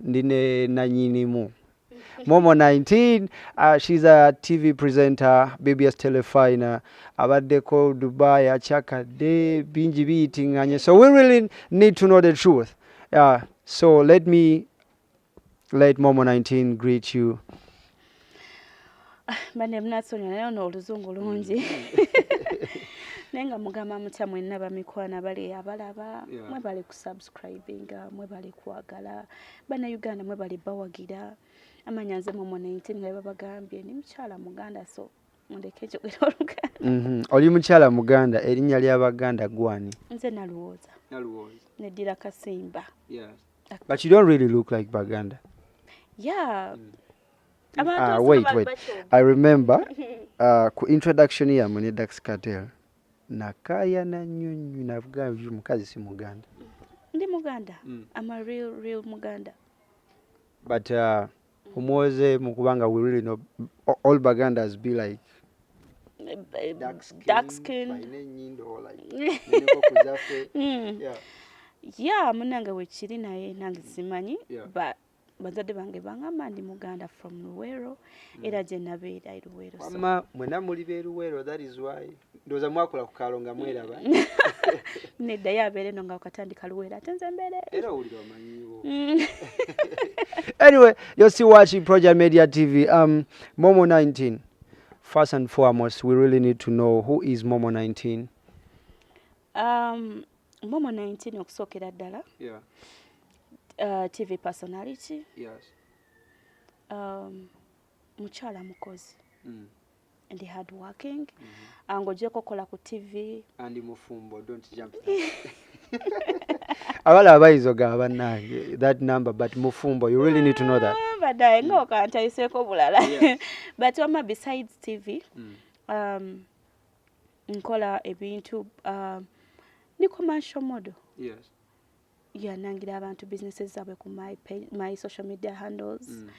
ndi ne nanyinimu momo 19 uh, she's a tv presenter bbs telefina abaddeko dubai akyakadde bingi biyitinganye so we really need to know the truth uh, so let me let momo 19 greet you Ah, bane mnasonyiwa naye ono oluzungu mm. lungi naye nga mugamba mutya mwenna bamikwana bali abalaba mwe bali kusubscribinga mwe bali kwagala bana uganda mwe bali bawagira amanya nze mu munenti nga babagambye ni mukyala muganda so mundeke ekyogera oluganda mm-hmm. oli mukyala muganda erinnya ly'abaganda gwani nze naluwooza neddira kasimba But you don't really look like Baganda. Yeah. Mm. Uh, wait, wait. I remember uh, ku introduction ya mune Dax Cartel nakaya na nyunyu navuga uyu mukazi si Muganda. Ndi Muganda. Mm. I'm a real real Muganda. But uh, Omwoze mu kubanga we really know all Bagandas be like dark skin, dark skin. Hmm. yeah. yeah munange wekiri naye nange simanyi yeah. but bazadde bange bangamba ndi muganda from luwero mm. era gye nabeera eruwero mama mwena muli beruwero that is why ndoza mwakula ku kalo nga mweraba nedda yo abeere no nga wakatandika luwera ate nze mbeere era owulira omanyiwo mm. anyway you're still watching project media tv um, momo 19 first and foremost we really need to know who is momo 19 um, momo 19 okusookera ddala yeah. uh, tv personality yes. um, mukyala mukozi mm. ndi hard working mm -hmm. Ah, ngojeko kola ku tv andi mufumbo don't jump abala abayizo ga banange that number but mufumbo you really need to know that ah, badaye mm. ngokantayiseko bulala yeah. but wama besides tv mm. um, nkola ebintu um, ni commercial model yes. yanangira abantu businesses zaabwe ku my, page, my social media handles mm.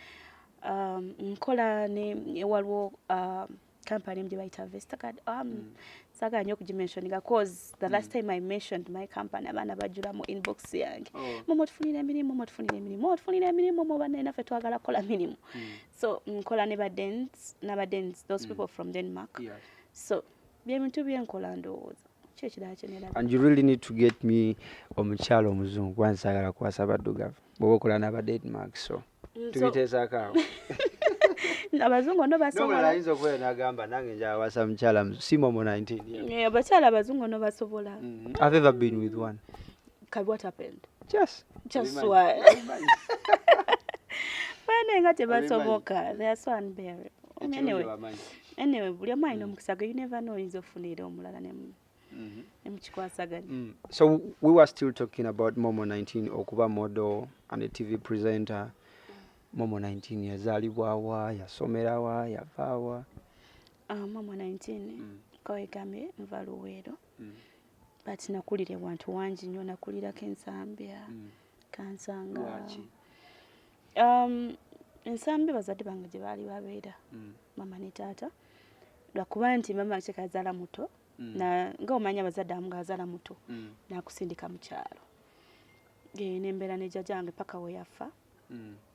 um, nkola ne waliwo um, company gye bayita vestacard um, mm. sagala nyo okugimensioninga cause the mm. last time i mentioned my company abaana bajula mu inbox yange oh. mumu tufunira emirimu mumu tufunira emirimu mumu tufunira emirimu mu banaye naffe twagala kukola mirimu mm. so nkola ne badens nabadens those mm. people from denmark yes. so byebintu byenkola ndowooza kyekirala kyenera and you really need to get me omukyalo omuzungu kuba nsagala kuwasa baddugavu bwoba okola naba dead mark so mm, tubiteesaako awo abazungu no basobolayinza okubeera nagamba nange njawasa mukyala simomo 19 abakyala abazungu no basobola mm-hmm. i've ever been with one Kabi, what happened? Just. Just what? Bana nga tebasoboka. They are so unbearable. Anyway. Anyway, buli omu alina mm. omukisa gwe you never know oyinza ofuna era omulala ne mu mm-hmm. nemukikwasaganya mm. so we were still talking about momo 19 okuba model and a tv presenter momo 19 yazalibwawa yasomerawa yavaawa ah, momo 19 mm. kawegambye nva luweero mm. but nakulira ewantu wangi nnyo nakulirako ensambya mm. kansanga um, ensambya bazadde bange gye baali babeera mm. mama ne taata lwakuba nti mama kyekazaala muto mm. na nga omanya abazadde amu ngaazaala muto mm. nakusindika mu kyalo nembeera ne jjajange paka we yafa mm.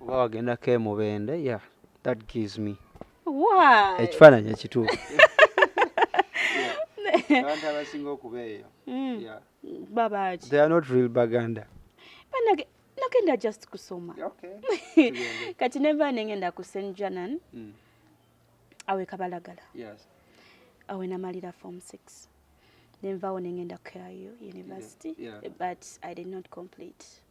oba wagendako emubende yeah that gives me why ekifaananyi ekituufu abantu abasinga okuba eyo mm. yeah. babaki they are not real baganda banage nagenda just kusoma okay. kati neva nengenda ku st janan mm. awe kabalagala yes. awe namalira form six nenvawo nengenda ku university yeah. Yeah. but i did not complete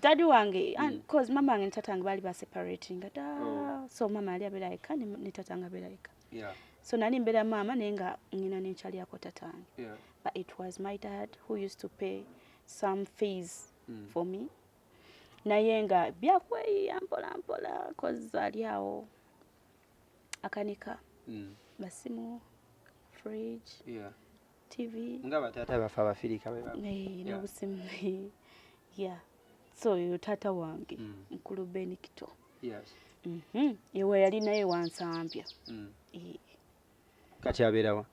dadi wange mm. cause mama wange ne tata wange baali baseparatinga da oh. so mama yali abeera yekka ne tata wange abeera yekka so nali mbeera maama naye nga ngina nenkyaliyako tata wange but it was my dad who used to pay some fees mm. for me naye nga byakweyiya mpola mpola cause ali awo akanika mm. basimu fridge yeah. TV nga batata bafa bafirika baba eh no busimu yeah so yo tata wange mm. mkulu Ben Kito yes mhm mm yewe yali naye wansampya mm. e. kati aberawa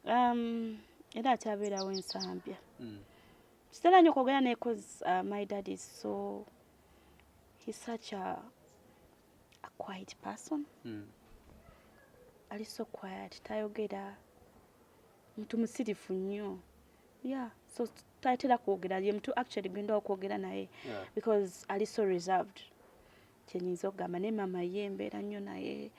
um era akyaberawo ensambya mm. kitera nyo kwogera naye cause uh, my dad is so he's such a a quiet person mm. ali so quiet tayogera mtu musirifu nnyo yeah so tayatera kwogera ye mtu actually genda okwogera naye yeah. because ali so reserved kyenyinza okugamba naye mama ye embeera nnyo naye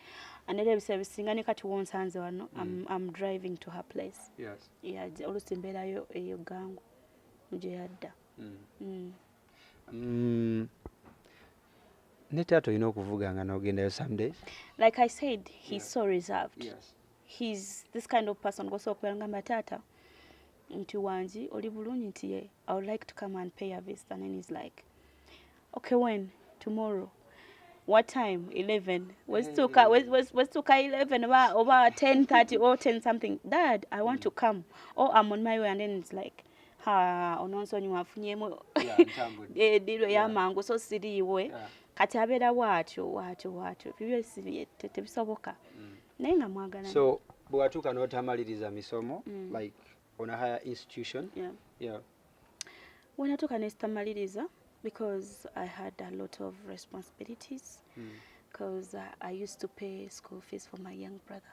anera ebiseera bisinga ne kati wonsanze wano mm. am driving to her place yes. yeah, olusi mbeerayo eyo gangu gye yadda mm. mm. Mm, ne taata olina okuvuga nga nogendayo someday like i said he's yeah. so reserved yes. he's this kind of person gosobola okubeera ngamba taata nti wangi oli bulungi nti ye i would like to come and pay a visit and then he's like okay when tomorrow what time 11 wezituka hey. wez, wez, wezituka 11 oba oba 10:30 or 10 something dad i want mm. to come or i'm on my way and then it's like ononsonyiwa afunyemu ediru eyamangu so siriiwe kati abeera waatyo waatyo waatyo bibyo tebisoboka mm. naye nga mwagala so bwewatuuka n'otamaliriza misomo mm. like on a higher institution yeah. Yeah. wenatuuka nesitamaliriza because i had a lot of responsibilities mm. because uh, i used to pay school fees for my young brother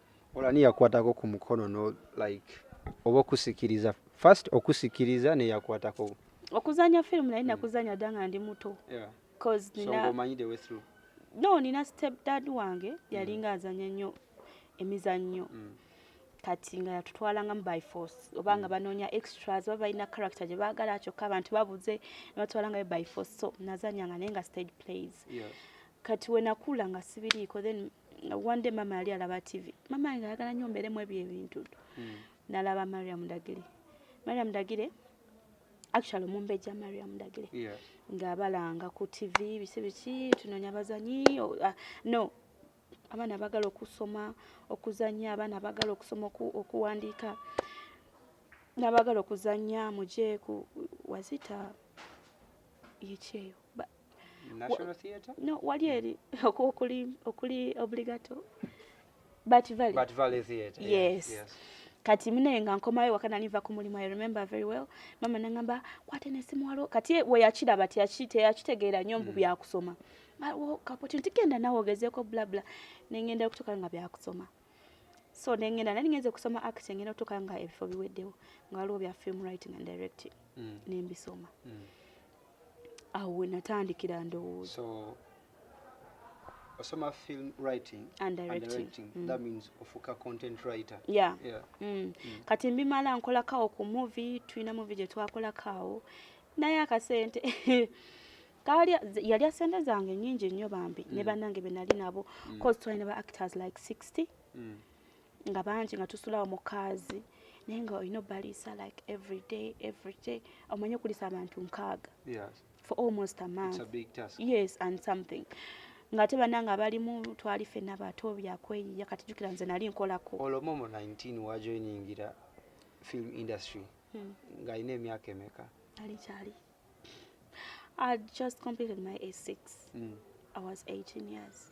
ola niyakwatako ku mukono no like oba okusikiriza first okusikiriza neyakwatako okuzanya film naye nakuzanya dda nga ndi muto no nina step dad wange yalinga mm. azanya nnyo emizannyo mm. kati nga yatutwalangamu by force oba nga mm. banoonya extras oba balina character gye baagala kyokka abantu babuze nebatwalangayo by force so nazanyanga naye nga stage plays kati wenakula nga sibiriiko then nga one day mama yali alaba tv mama nga ayagala nyo mbeeremu ebyo ebintu hmm. nalaba mariam dagire mariam dagire actually omumbeja mariam dagire yeah. nga abalanga ku tv bisi biki tunonya bazanyi oh, uh, no abaana bagala okusoma okuzanya abaana bagala okusoma oku, okuwandiika nabagala okuzanya muje ku wazita yekyeyo no wali eri okuli okuli obligato but valley but valley theater yes, yes. yes. kati mune nga nkomayo wakana niva ku mulimu i remember very well mama nangamba kwate ne simu walo kati we yakira but yakite yakitegeera nyo mbu mm. bya kusoma awo kapoti ntigenda nawe ogezeko bla bla nengenda okutuka nga bya kusoma so nengenda nani ngenze kusoma acting ngenda okutuka nga ebifo biweddewo nga waliwo bya film writing and directing mm. nembisoma mm. awo we natandikira ndowooza so, osoma film writing and directing, and directing. Mm. that means ofuka content writer yeah, yeah. Mm. Mm. kati mbimala nkolakawo ku movie tulina movie gye twakolakawo naye akasente kali yalya sente zange nyingi nnyo bambi mm. ne banange benali nabo mm. cause twalina ba actors like 60 mm. nga bangi nga tusulawo mukaazi naye nga olina obaliisa like everyday everyday omanye okulisa abantu nkaaga for almost a month yes and something nga ate banange abalimu twali fena bato byakweyiya kati jukira nze nali nkolako olomomo 19 wajoiningira film industry hmm. nga alina emyaka emeka ali kyali i just completed my a6 mm. i was 18 years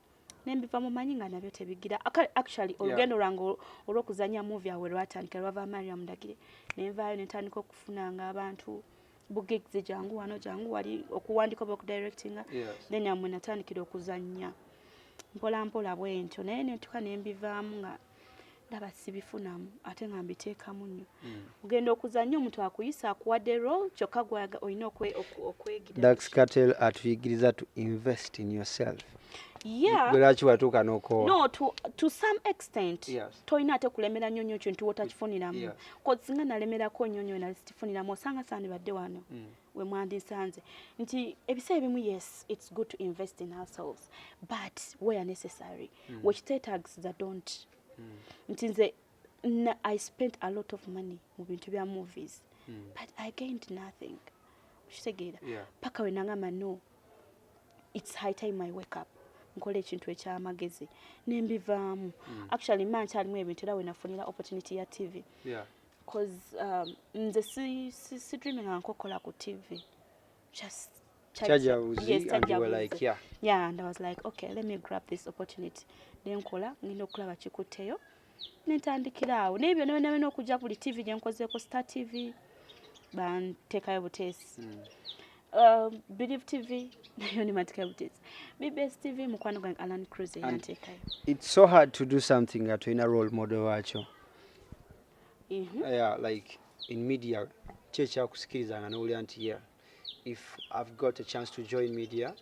nembiva mumanyi nga nabyo tebigira actually olugendo lwange olwokuzanya muvi awe lwatandika lwava mariam ndagire nenvaayo nentandika okufunanga abantu bugigs jangu wano jangu wali okuwandika oba okudirectinga then amwe natandikira okuzanya mpolampola bwentyo naye netuka nembivaamu nga ndaba sibifunamu ate nga mbiteekamu nnyo hmm. ogenda okuzannya omuntu akuyisa akuwadde rol kyokka gwaga olina okwegiradaxcatel atuyigiriza to invest in yourself lwaki watuuka nokowa no to, to some extent yes. tolina ate kulemera nnyo nnyo kintu wotakifuniramu yeah. kozi singa nalemerako nnyo nnyo nali sikifuniramu osanga sandibadde wano mm. we mwandisanze nti ebiseera ebimu yes it's good to invest in ourselves but where necessary mm. wekiteetagisiza don't mm. nti nze i spent a lot of money mu bintu bya movies mm. but i gained nothing okitegeera yeah. paka wenangamba no it's high time i wake up nkola ekintu ekyamagezi nembivaamu mm. actually ma nkyalimu ebintu era wenafunira opportunity ya tv yeah. cause um, nze si, si, si dreaming ankokola ku tv just nenkola ngenda okulaba kikutteyo nentandikira awo naye byona byona byona okujja buli tv gyenkozeeko star tv bantekayo buteesi hmm. um, believe tv nayo nematekayo buteesi bbs tv mukwano gwange alan cruz eyantekayo its so hard to do something nga tolina role model wakyo mm -hmm. yeah, like in media kyekyakusikirizanga nowulira nti yeah if i've got a chance to join media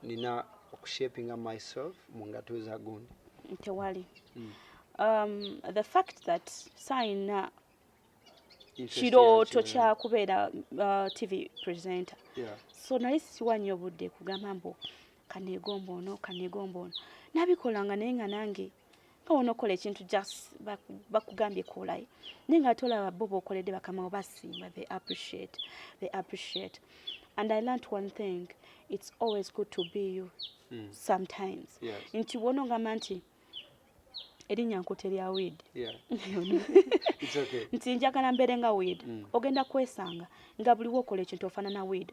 nina okushapinga myself mu ngato za gundi tewali mm. um, the fact that sayina kirooto kyakubeera uh, tv presenter yeah. so nali siwa nnyo budde kugamba mbu kanegomba ono kanegomba ono nabikolanga naye nga nange nga wona okola ekintu just bakugambye kolayo naye nga ate olaba bo bokoledde bakamawo basimba they appreciate they appreciate and i learnt one thing it's always good to be you mm. sometimes yes. nti wona ogamba nti erinnya nkuta erya wid nti njagala mbeere nga wid mm. ogenda kwesanga nga buli wokola ekintu ofanana wid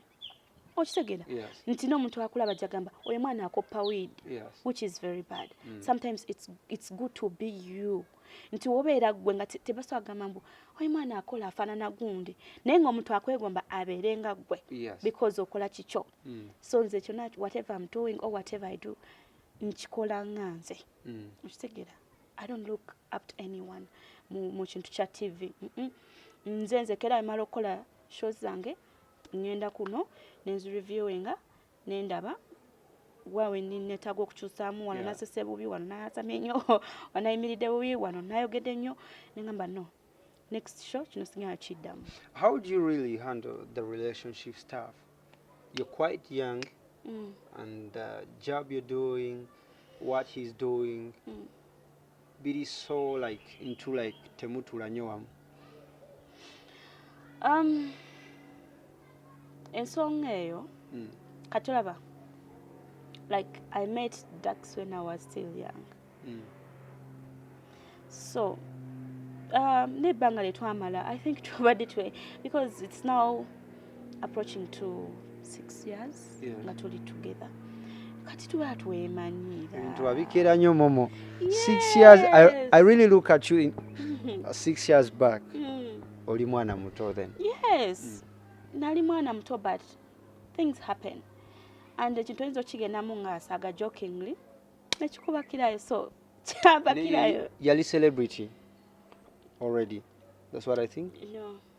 okitegera yes. nti n'omuntu akulaba jagamba oyo mwana akoppa weed yes. which is very bad mm. sometimes it's, it's good to be you nti wobeera gwe nga tebasobola kugamba mbu oyo mwana akola afaanana gundi naye ngaomuntu akwegomba abeere nga gwe yes. because okola kikyo mm. so nze kyona whatever im doing or whatever i do nkikola nga nze mm. okitegera i don't look up to anyone mu kintu kya tv mm -mm. nze nzekera emala okukola shows zange ŋŋenda kuno ne nzireviewinga ne ndaba wa wenneetaaga okukyusaamu wano nasese bubi wano nayasamye nnyo wanayimiridde bubi wano nayogedde nnyo nengamba no next show kino sinyala kiddamu how do you really handle the relationship staff you're quite young mm. and the job you're doing what he's doing mm. biri so like into like temutula nyo wamu um ensonga eyo mm. kati olaba like i met dax when i was still young mm. so um, nebbanga lyetwamala i think tubadde twe because it's now approaching to six years yeah. nga tuli together kati tuba twemanyiira bintu babikeera nnyo momo yes. six years I, I really look at you in, uh, six years back mm. oli mwana muto then yes mm. nali mwana muto but things happen and ekintu oyinza okigendamu ngaasaga jokingly nekikubakirayo so kyabakirayo yali celebrity already that's what i think no.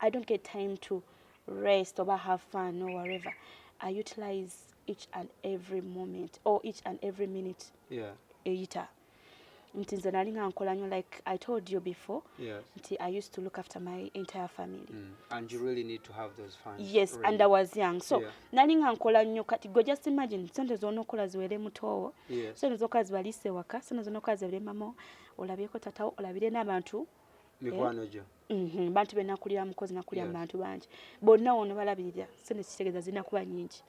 I don't get time to rest or have fun or whatever. I utilize each and every moment or each and every minute. Yeah. Eyita. Nti nze nali nga nkola nyo like I told you before. Yes. Nti I used to look after my entire family. Mm. And you really need to have those funds. Yes, really. and I was young. So yeah. nali nga nkola nyo kati go just imagine sente zona okola ziwere mutowo. Yes. Sente zoka zibalise waka, sente zona okola ziwere mamo, olabyeko tatawo, olabire n'abantu. Mikwano eh? jo. Mhm, bantu be nakulira mukozi nakulira mu bantu bangi bonna wono balabirira sente kitegeeza zirina kuba nyingi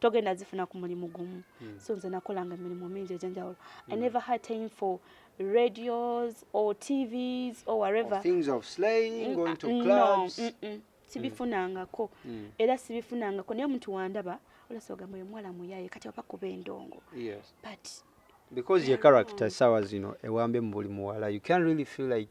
togenda zifuna ku mulimu gumu hmm. so nze nakolanga emirimu mingi egyenjawulo i hmm. never had time for radios or tvs or whatever things of slaying mm, going to mm, clubs mm, mm. sibifunangako mm. era sibifunangako naye omuntu wandaba olasa ogamba oyo muwala muyaye kati oba kuba endongo yes. but because your character sawa zino ewambe mu buli muwala you can really feel like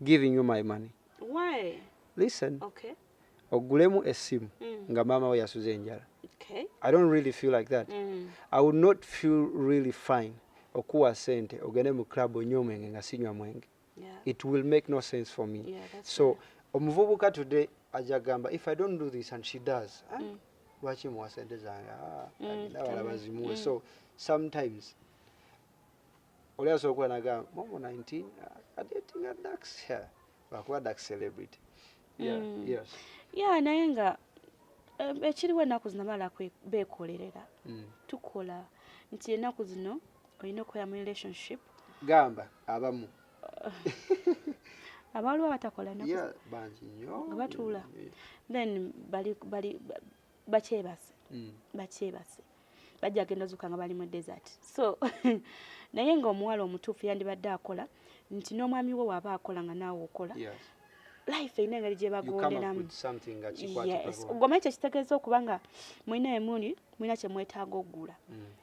giving you my money why listen okay ogulemu esimu mm. nga maama we yasuza enjala okay. i don't really feel like that mm. i would not feel really fine okuwa sente ogende mu club onywa omwenge nga sinywa mwenge yeah. it will make no sense for me yeah, so right. omuvubuka today aja gamba if i don't do this and she does eh? mm. lwaki muwa sente zange ah, mm. abalaba zimuwe mm. so sometimes oli asobola okuba naga momo 19 adetinga dax lwakuba dax celebrity mm. ya naye nga eh, ekiriwo ennaku zino abala bekolerera mm. tukola nti ennaku zino olina okukola mu relationship gamba abamu abaliwo abatakola nga batuula then bali bakyebase mm. bakyebase bajja agenda ozuka nga bali mu desert so naye nga omuwala omutuufu yandibadde akola nti n'omwami we waaba akola nga naawe okola yes. life erina engeri gye bagonderamu yes. goma ekyo kitegeeza okuba nga mulina emuli mulina kye mwetaaga okugula mm.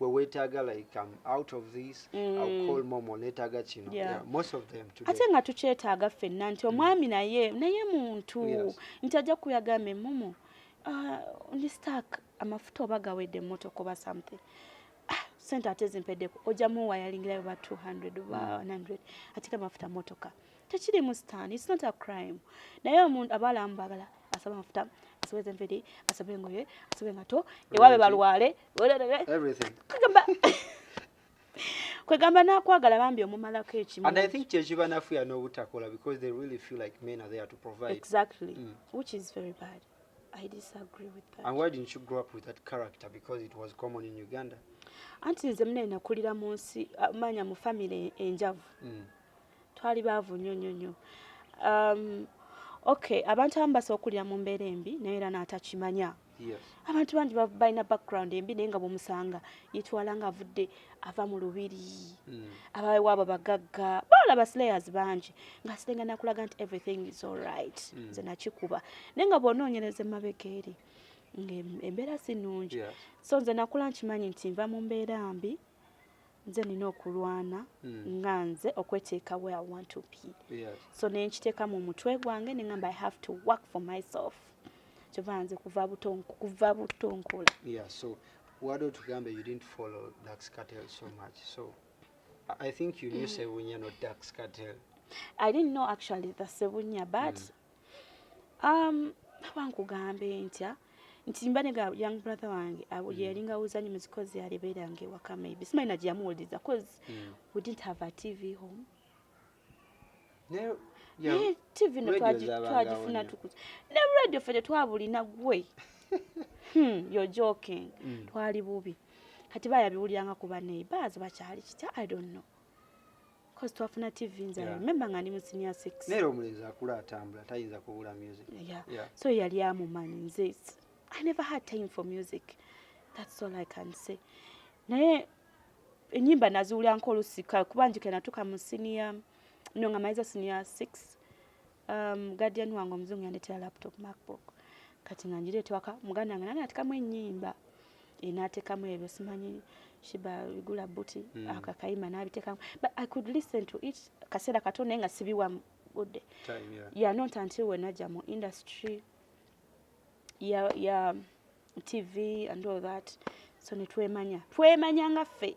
wewetaaga like um, out of this mm. call momo netaaga kino yeah. Yeah, most of them today. ate nga tukyetaaga fenna nti mm. omwami mm. naye naye muntu yes. nti ajja kuyagambe momo uh, ndi stark amafuta oba gawedde emmotoka oba something ah, sente ate zimpedeko ojja muwa yalingirayo ba 200 oba 100 mm. ate kamafuta motoka tekiri mu stan its not a crime naye omuntu abaalamu bagala asaba amafuta asobe zenviri asobe engoye asobe engato ewabe balwale kwegamba nakwagala bambi omumalako ekimu and i think kyekiba nafuya n'obutakola because they really feel like men are there to provide exactly mm. which is very bad i disagree with that and why didn't you grow up with that character because it was common in uganda anti nze mune nakulira mu nsi uh, manya mu family enjavu mm. twali baavu nnyo nnyo nnyo um, okay abantu abamu basobola okukulira mu mbeera embi naye era n'atakimanya abantu bangi balina background embi naye nga bwemusanga yetwala nga avudde ava mu lubiri mm. abawewaabo bagagga bawala baslayers bangi nga sirenga nakulaga nti everything is alright mm. nze nakikuba naye nga bwonoonyereza emabega eri ngaembeera si nungi so nze nakula nkimanyi nti nva mu mbeera mbi nze nina okulwana mm. nga nze okweteeka where i want to be yes. so nenkiteeka mu mutwe gwange nengamba i have to work for myself kyova nze kuva buto kuva buto nkola yeah, so wade otugambe you didn't follow dax cartel so much so i think you knew mm. sebunya not dax cartel i didn't know actually the sebunya but mm. um aba nkugambe ntya nti mba ne ga young brother wange abo mm. yali nga uzanyi muzikozi yali bera nge waka maybe simanyi na jamu uliza cause mm. we didn't have a tv home ne yeah, yeah, tv no twaji twaji funa tukuza ne radio fete twabuli na gwe hmm you're joking mm. twali bubi kati baya biwulya nga kuba neighbors bachali kita i don't know Cause twafuna TV nze yeah. remember nga ndi mu senior 6. Nero omulenzi akula atambula tayinza kubula music. Yeah. yeah. So yali amumanyi nze I never had time for music. That's all I can say. Naye enyimba naziwulira nkolusika kuba njike natuka mu senior no nga maiza senior 6 um, guardian wange omuzungu yandetera laptop macbook kati nga njiri etwaka muganda wange nange natekamu enyimba enatekamu eh, ebyo simanyi shiba igula buti mm. akakayima nabitekamu but i could listen to it kaseera kato naye nga sibiwa budde yeah. yeah, not until wenaja mu industry ya yeah, yeah, tv and all that so netwemanya twemanya nga ffe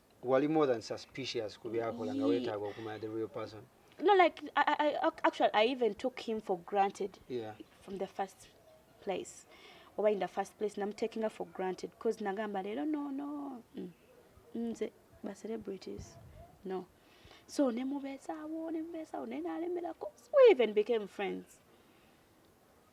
wali more than suspicious ku byakola nga wetaaga okumanya the real person no like I, I, I, actually i even took him for granted yeah. from the first place oba in the first place namutakinga for granted bcause nagamba leero no no mm. nze ba celebrities no so nemubeezaawo nemubeezaawo naye nalemerako we even became friends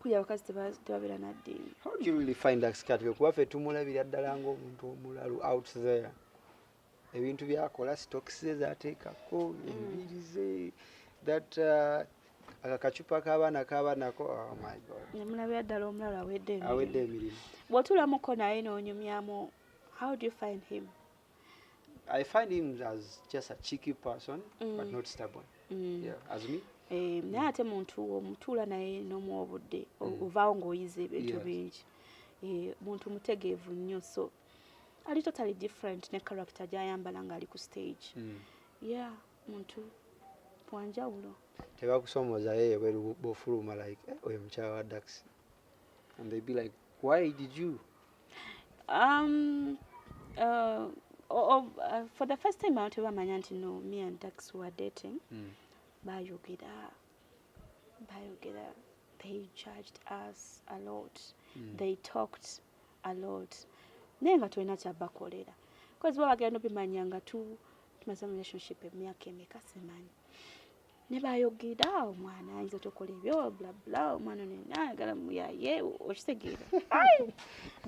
kuya abakazi tebabeera naddiini how do you really find that scategory kuba ffe tumulabira ddala ng'omuntu omulalu out there ebintu byakola stocks ze zateekako mm. enviiri ze that uh, aka kacupa k'abaana kaba nako oh my god nemulabira ddala omulalu awedde emirimu bw'otuulamuko naye n'onyumyamu how do you find him I find him as just a cheeky person mm. but not stubborn. Mm. Yeah, as me. Eh, naye ate muntu omutuula naye n'omu obudde mm. ovaawo ng'oyize ebintu bingi eh, muntu mutegeevu nnyo so ali totally different ne character gy'ayambala ng'ali ku stage mm. yeah muntu wanjawulo tebakusoomozayo ebweru bofuluma like eh, oyo mukyala wa daxi And they'd be like, why did you? Um, uh, oh, oh, uh, for the first time abantu bamanya nti no me and dax were dating mm. bayogera bayogera they judged us a lot mm. they talked a lot naye nga tulina kyabakolera bcause babagenda obimanya nga tu tumaze mu relationship emyaka emeka simanyi ne bayogera omwana ayinza tokola ebyo blabla omwana nena ayagala muyaye okitegeera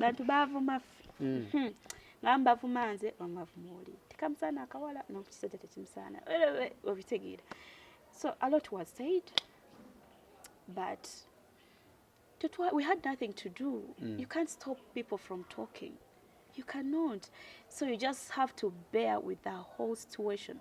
bantu bavuma ffe mm. hmm. nga mbavuma nze omavuma oli tekamusaana akawala nokukisajja tekimusaana obitegeera so a lot was said but tutwa, we had nothing to do mm. you can't stop people from talking you cannot so you just have to bear with the whole situation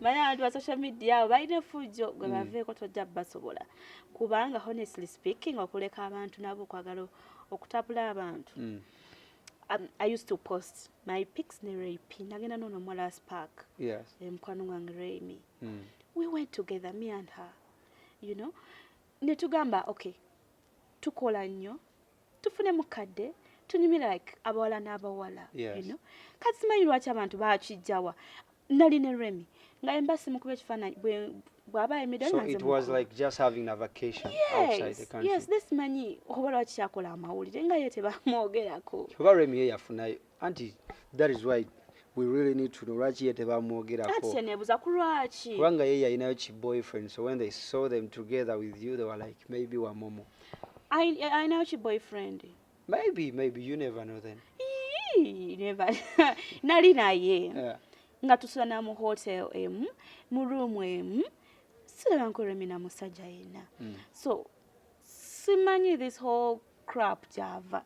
manya abantu ba social media abo balina efujjo gwe mm. baveeko tojja basobola kubanga honestly speaking okuleka abantu nabo okwagala okutapula abantu mm. um, i used to post my pics ne rape nagenda nono omuwala wa spark yes. mukwano gwange raymi mm. we went together me and her you know netugamba okay tukola nnyo tufune mukadde tunyumye like abawala n'abawala yes. you know? kati simanyi lwaki abantu bakijjawa nali ne remy nga emba simukuba ekifaananyi bwaba emidalnasimanyi oba lwaki kyakola amawulire nga ye tebamwogerako oba remy ye yafunayo anti that is why we really need to know lwaki ye tebamwogerakonebuza ku lwaki kubanga ye yalinayo ki boyfriend so when they saw them together with you they were like maybe wa momo alinayo ki boyfriend maybe maybe you never know then never nali naye yeah. nga tusula na mu hotel emu mu room emu siraba nkulemina musajja yenna mm. so simanyi this whole crap gyava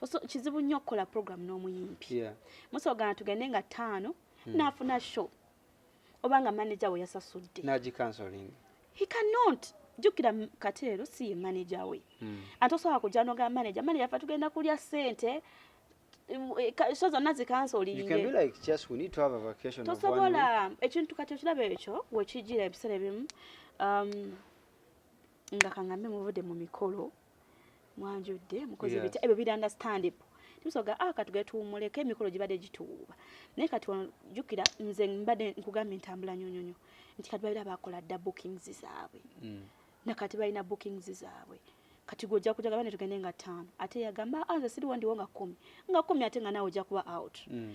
Toso kizibu nnyo okukola program n'omuyimbi. Yeah. Musogana tugende nga ttaano hmm. n'afuna show oba nga manager we yasasudde. Nagi counseling. He cannot jukira kateero si ye manager we. Hmm. Ate osobola kujja n'ogamba manager, manager afa tugenda kulya ssente show zonna zikansolintosobola ekintu kati okiraba ekyo wekijira ebiseera ebimu um, nga kangambe muvude mu mikolo mwanjudde mukoze yes. bitya ebyo biri understandable tusoga ah katugere tuwumuleko emikolo gibadde gituwuuba naye kati wano jukira nze mbadde nkugambye ntambula nyonyonyo nti kati babira bakola dda bookings zaabwe mm. nakati balina bookings zaabwe kati gwe ojja kuja gabane tugende nga ttaano ate yagamba ah, nze siriwo ndiwo nga kkumi nga kkumi ate nga naawe ojja kuba out mm.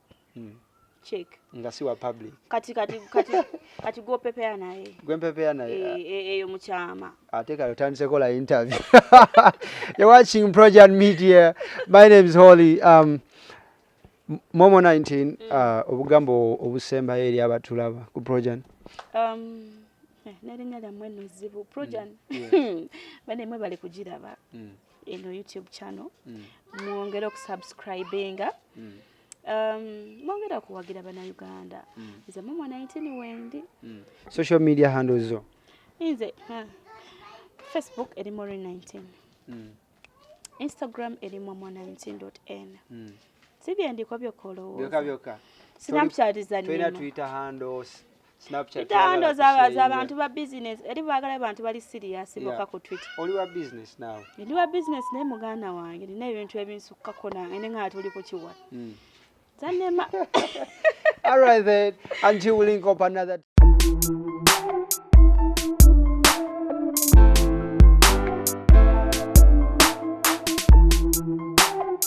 mm. check nga si wa public kati kati kati kati go pepea naye gwe pepea naye eyo eh, eh, eh, muchama ate kale otandise kola interview you're watching project media my name is holy um momo 19 mm. uh, obugambo obusembayo eri abatulaba ku project um nerinnya lyammwe nno zzibu projan mm. bane mwe bali kugiraba mm. eno youtube channel mm. mwongere okusubscribinga mm. um, mwongere okuwagira banauganda mm. nze mumwa 19 wendi social media handle zo nze facebook eri mori 19 instagram eri mwamwa 19 n sibyendiko byokka olowooza sinapchatizanina twitter handles Itaondo za za bantu ba business. Eri bagala bantu bali serious yeah. boka ku Twitter. Oli wa business now. Ndi wa business naye muganda wange nina ebintu ebinsukka kona ene nga tuli ku kiwa. Mm. Zanema. All right then. Until we link up another